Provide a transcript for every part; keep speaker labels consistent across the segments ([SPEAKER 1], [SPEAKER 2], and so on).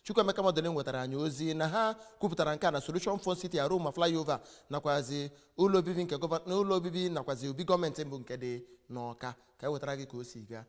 [SPEAKER 1] chukwuemeka modilim nwetara anyị ozi na ha kwupụtara nke a na solution fun city aroma flyover nakwazi ụlọ obibi nke gọvanọ ụlọ obibi nakwazi obi gọọmenti bụ nke dị n'ọka ka e wetara gị ka o si gaa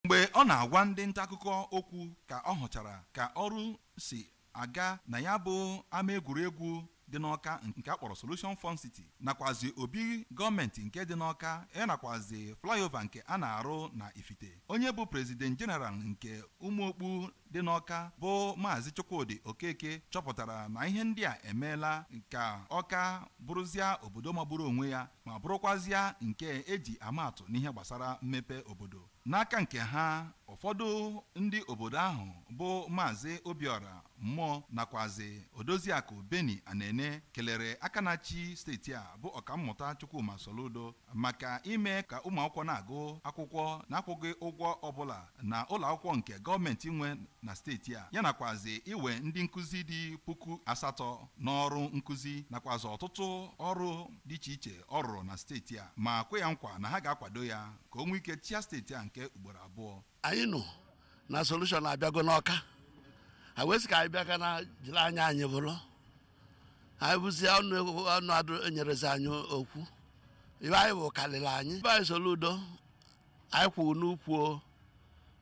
[SPEAKER 1] mgbe
[SPEAKER 2] ọ na-agwa ndị nta akụkọ okwu ka ọ hụchara ka ọrụ si aga na ya bụ ama egwuregwu dị n'Awka nke a kpọrọ Solution Fun City nakwazị obi gọọmentị nke dị n'Awka ya nakwazị flyover nke a na-arụ na Ifite. Onye bụ President General nke Ụmụokpu dị n'Awka bụ Maazị Chukwudị Okeke chọpụtara na ihe ndị a emeela ka Awka bụrụzịa obodo magburu onwe ya ma bụrụkwazịa nke e ji ama atụ n'ihe gbasara mmepe obodo. N'aka nke ha, ụfọdụ ndị obodo ahụ bụ Maazị Obiọra Mmụọ nakwazị Odoziakụ Benny Anene kelere aka na-achị steeti a bụ Ọkammụta Chukwuma Soludo maka ime ka ụmụakwụkwọ na-agụ akwụkwọ na-akwụghị ụgwọ ọbụla na ụlọakwụkwọ nke gọọmenti nwe na steeti a, ya nakwazị iwe ndị nkụzi dị puku asatọ n'ọrụ nkụzi nakwazị ọtụtụ ọrụ dị iche iche ọ rụrụ na steeti a ma kwe ya nkwa na ha ga-akwado ya. ka o nwee ike chịa steeti a nke ugboro abụọ anyị
[SPEAKER 3] nụ na solushon abịago n'ọka anyị wee sị ka anyị bịa ka anyị jiri anya anyị bụrụ anyị bụzie ọnụ ọnụ adụ enyerezi anyị okwu ibe anyị bụ karịrị anyị ibe anyị soludo anyị kwụ n'ukwu o.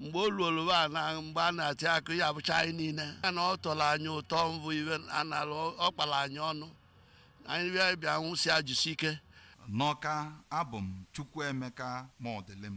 [SPEAKER 3] mgbe o ruolu be a na mgbe a na-atị akụ ya bụcha anyị niile ya na ọ tọrọ anyị ụtọ bụ ibe a na-alụ ọ kpara anyị ọnụ anyị bịa bịa
[SPEAKER 2] nwụsịa jisi ike n'ọka abụ
[SPEAKER 3] m chukwuemeka
[SPEAKER 2] modilim